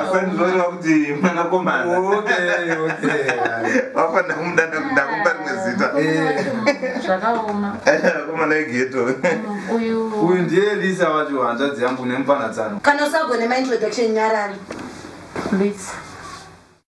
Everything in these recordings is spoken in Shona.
asandinoreva kuti mwanakomana vafanira kumudana kuti ndakupa rimwe zita eh. zvakaoma akomana egeto uyu ndiye elisa wacho hanzvadzi yangu nemupanatsano kana usagone maintroduction nyarari lisa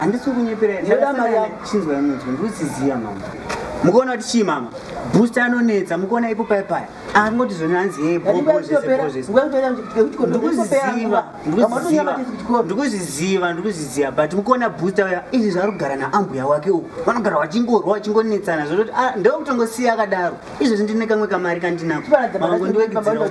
handisi kunyepera ndinoda mari yangu chinzwa yamunzwa ndikusiziva mama mukuona kuti chii mama booster anonetsa mukuona ipo paya paya angoti zvoni hanzi yeye ndikuzviziva ndikuzviziva but mukuona booster uya izvi zvari kugara naambuya wake uku vanogara vachingorwa vachingonetsana zvototi ah, ndokutongosiya akadaro izvozvi ndine kamwe kamari kandinako mangondiwekedzera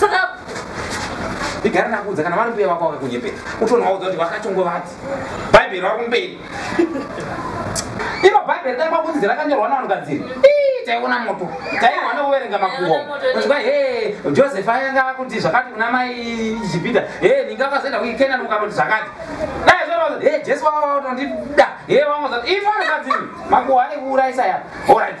saka igare ndakuudza kana vari mbuya vako vakakunyepera utonovaudza kuti vakatongovati bhaibheri vari kumberi iro bhaibheri dai kwakunzi rakanyorwa navanhukadziri taiona moto taiwa nekuverenga makuho zva he joseph ayanga akuti zvakati kuna mai jipita he ninge akazoenda kuikenan ukatoti zvakati dai zvaa he jesu vaaotondida he vamozati ifanhukadziri makuho anekuuraisa ya orit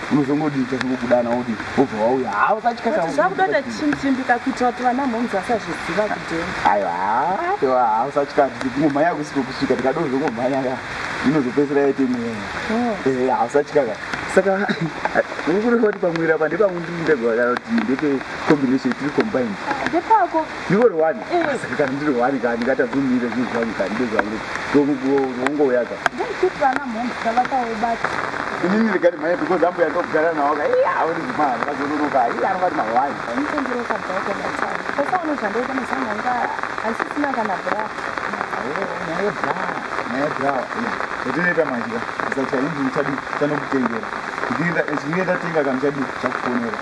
unozongodii chazongokudana wodii wobva wauya haa usatyazvakutoita chimchimbika kuita kuti vana mhomzi vasazviziva kudeni aiwa aiwa haa usatya tingomhanya kusiko kusvika tikadozongomhanya ka inozopedzisira yaite mweya oh. eh, haa usatya ka saka ukureva kuti pamwira pa ndepamwe ndiri ndega kana kuti ndepe combination tiri combined ndepako ndiwe rwani kana ndiri rwani ka ndingatadzi umire zvinhu zvangu ka ndibe zvangu ndongouyaza inini ndikati mhanya because ambuya ndokugara nawo ka iya auri kumana vazononoka iya anobati mahwani zvatinoita manje ka saka chainzi uchadi chanokutengera zviinge tatenga kamuchadi chakufonera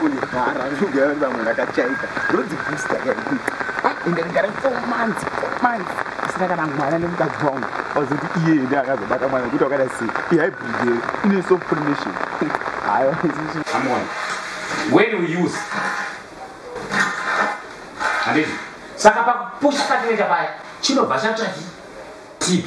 kundivhara zvinogara kuti vamwe ndakachaika ndonzi booster yaii ende ndikare four months four months asina kana mwana nemukadzi wangu wazoti iye ende akazobata mwana kuti wakada sei ihybrid ine sofrmation hayo saka pakupushi patineta paya chinobva chatahi tb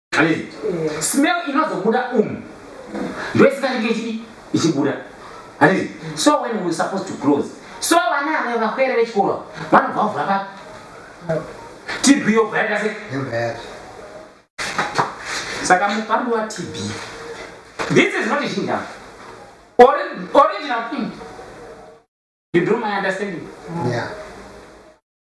smell inozobuda umu ndoisinganenge ichii ichibuda handizi so when we supposed to close so vana ave vakwere vechikoro vanobva vavhura pa tb yobva yaita se saka mupandu watb this is not ishinga original thing you do my understanding yeah.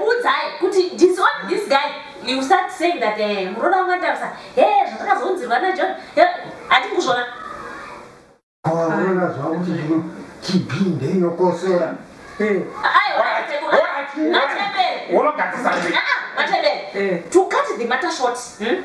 udzai kuti disown this guy you start saying that eh, muroda wangu andarusa he eh, zvatakazounzirwa najohn eh, hati kuzvona aona zvavo kuti zvino chibinde inokosora unogadzisa ah, ah, to cut the matter short hmm?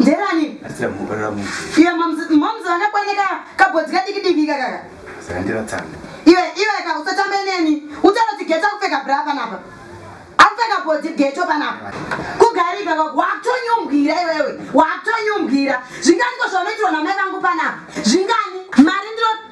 nderani iwe moms vanakwaneka kabhodzi kadiki diki kakaka iwe iwe ka usatambe neni utaroti geto akupfeka bra panapa akupfeka bhodzi geto panapa kugarika wakutonyumbwira iwewe wakutonyumbwira zvingani ko zvaunoitirwa namai vangu panapa zvingani mari ndiro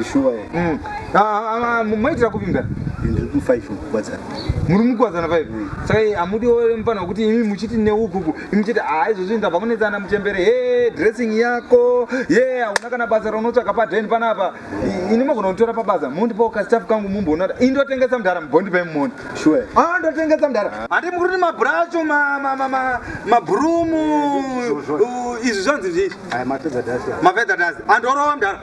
Ishuwa here? Mm. Ah, ah, ah, Maitira kupi mdara? Ndiri ku 5 kukwadzana. Muri mukwadzana 5. Mm. Saka eh, amudi ore mfana kuti imi muchiti neukuku, imi muchiti ah izvozvi ndabva kunetsana muchembere. Hey, dressing yako. Yeah, hauna kana basa raunotsvaka pa den panapa. Ini mogona kutora pa basa. Mondipawo ka staff kangu mumboona. Indotengesa mdara mbondi pa mmondi. Sure. Ah, ndotengesa mdara. Handi mukuri ma brush ma ma ma ma, ma broom. Izvi zvanzi izvi. Ai mapedza dasi. Mapedza dasi. Andorowa mdara.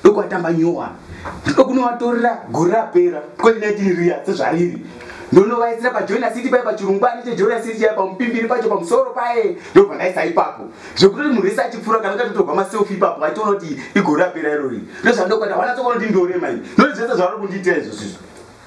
ndokuvatamba nyowa ndokunovatorera gore rapera 2019 riya sezvariri ndonovaisira pajoina city paye pachirungwani chejoina city chaye pamupimbiri pacho pamusoro paye ndobva ndaisa ipapo zvekutoti munhu wese achipfuura kana ukatotorwa maselfi ipapo vaitoona kuti igore rapera irori ndozvandokuita vanatsokonoti ndorema i noti zvese zvavari kundiitira izvozvizvo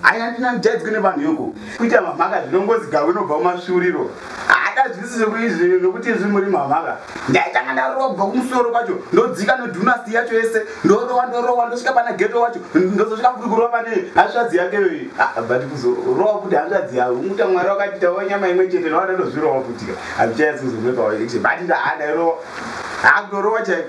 Hai handina ndijaidzwe nevanhu yoko kuita mamhaka zvinongozi gawe inobva kumasviuriro hatazwisise kuizvi nokuti izvi muri mamhaka ndaitanga ndarowa kubva kumusoro kwacho ndodzika nedunasti yacho yese ndorowa ndorowa ndosvika pana geto wacho ndozosvika kuri kurova pane hanzvadzi yakeyoyi ah, but kuzorowa kuti hanzvadzi yavo unguta mwari wakatitawo nyama imwe chete nowana ndozvirowa futika handichayasi kuzomwe pawaection but ndahandairowa hakudorowa chaiko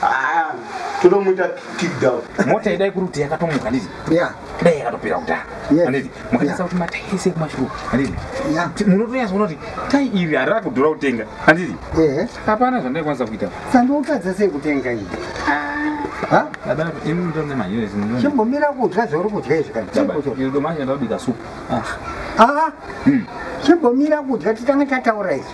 Haa, totomuita kick down. Mota yedai kuri kuti yakatomuka nditi. Yeah. Dai yakatopera kudhara. Yes. Nditi. Mukanyasa kuti mata ese kumashuku. Nditi. Yeah. Munotonyasa kuti tai iri harira kudhura kutenga. Nditi. Eh. Hapana zvandai kwanisa kuita. Sandokadza sei kutenga iyi. Ha? Baba, ini ndo ne manyo ezi. Chimbomira kudya zvauri kudya izvi kana. Baba, iri ndo manyo ndabika soup. Ah. Ah. Hmm. Chimbomira kudya titanga tataura izvi.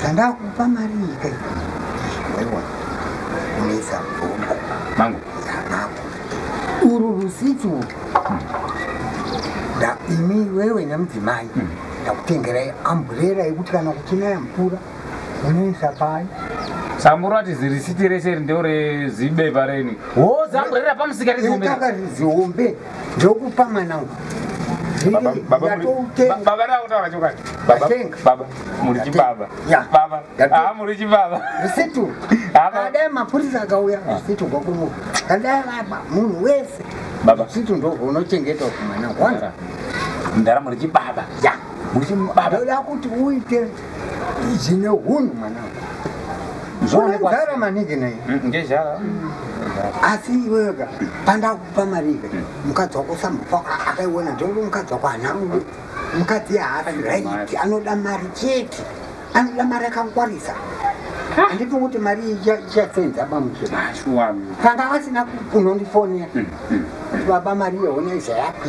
zvandakupa mari nyika iwewa unetsa mvumbo mangu yamako uru rusitu da imi wewe nemudzimai hmm. ndakutengerai amburera yekuti kana kuchinaya mvura unoisa pai sambura ti zirisiti rese ri ndeo rezibepa reni ho zamburera pamusika rizihombe ndokupa mwana uku kadai mapurisa akauya usitu ah. kwakumu kadai vaba munhu wese usitu ndounochengetwa kumwana kwanza mdara muri chibaba ya muri chibaba ndoda kuti uite zvine hunhu mwana zvoonekwa zara maningi naye mm, ngezhara asi iwega panda pamarive mm. mukadzi wako sambofa akaiona ndongo mukadzi wako hana rudo mukadzi haasi raiti anoda mari chete anoda mari akangwarisa handiti kuti mari ichasenza bamuchepanga vasina kunondifonera baba mari yehona izayapi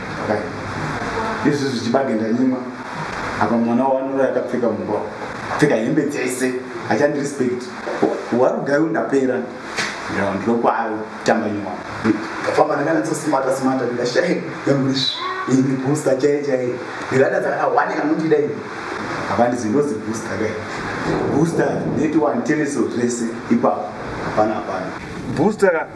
Kai. Izvi zvichibage ndanyimwa. Apa mwana waanora akapfeka mumba. Kupfeka hembe dzese. Achandi respect. Warugayo ndapera. Ndiro ndiro kwayo tamba nyimwa. Ndafamba ndakana tsosimata simata ndikashaye. Yamurish. Ini booster chai chai. Ndikada dzakana wani kanondida ini. Apa ndizi ndozi booster kai. Booster neti wani tereso zvese ipapo. Hapana hapana. Booster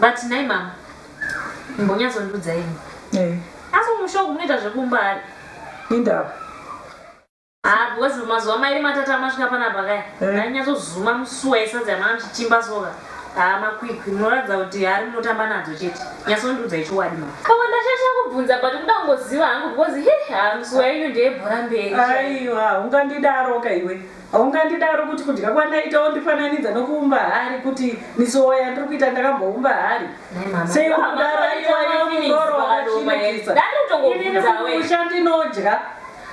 but nhai mama mbonyatsondiudza ini eh. asi mumusha uku munoita zvekumba ani indava haa ah, because mazuva mairi matatu amasvika panapa kaya eh. ainyatsozuma musuwa yesadza yamana mchichimba soka haa ah, makwikwi munoratidza kuti hari munotamba nadzo chete nyatsondiudza ichiwadi ma kama ndashasha kubvunza but kuda kungoziva hangu because he haa ah, musuwa yenyu ndeyebhora mberi aiwa ungandidaro ka iwe Haungandidaro kuti kudya kwandaita wondifananidza nokuumba hari kuti misowa yandiri kuita ndakamboumba hari. Sei uri kudaro aiwa iwe mungoro wakachinakisa. Inini kumusha ndinodya.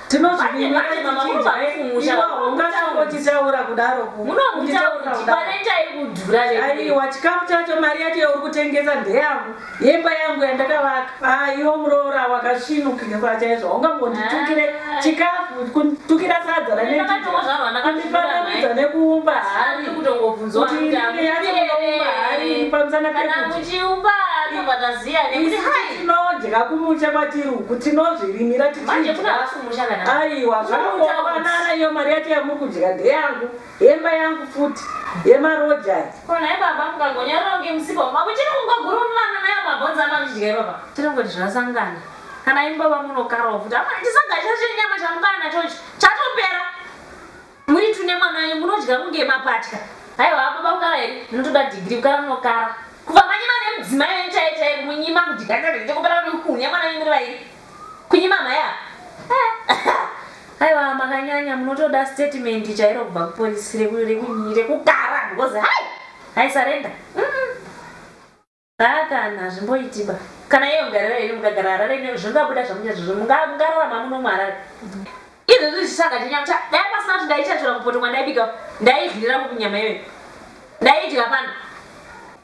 Tinozvivinira tichidya. Iwa haungatongotichaura kudaro ku. Kunditaura kudaro. Aiwa chikafu chacho mari yacho yauri kutengesa ndeyangu. Yemba yangu yandakavaka. Haa iwo muroora wakasvinukika kwachaizvo haungambotitukire ah. chikafu kutukira sadza raneandifanamidza nekuumba hari kuti yacho unoumba hari pamusana pekuchiumba tinodya kumusha kwatiri uku tinozvirimira tichiaiwa zvakaoanana iyo mari yacho yamuri kudya ndeyangu Hemba yangu futi yema roja aya. Ko nhai baba mukagonyarara kunge musika wemba kuchiri kungogurumana nayo mabhonzo amanodya ipapa. Tirongoti zvasangana. Kana imi baba munokarawo futi. Amai chisagacha chenyama chamukana nacho ichi chatopera. Muri two nemwana wenyu munodya kunge mapatya. Haiwa baba kukara here munotoda degree kukara munokara. Kubva manyima nemudzimai wenyu chaiye chaiye kumunyima kudya chakupera kuti uku nemwana wenyu muri vairi. Kunyima mhai apa. Aiwa makanyanya munotoda statement chairo kubva kupolice rekugara because hai hai surrender. Hakana hazvimboitiba. Kana iyo garira yenyu mukagara harare ine zvingabuda zvamucha zvizvo mungararama muno muharare. Izvo zvichishanga chenyama cha dai pasina kuti ndaichachura mupoto mwandaibika ndaigirira mukunyama iyoyo. Ndaidya pano.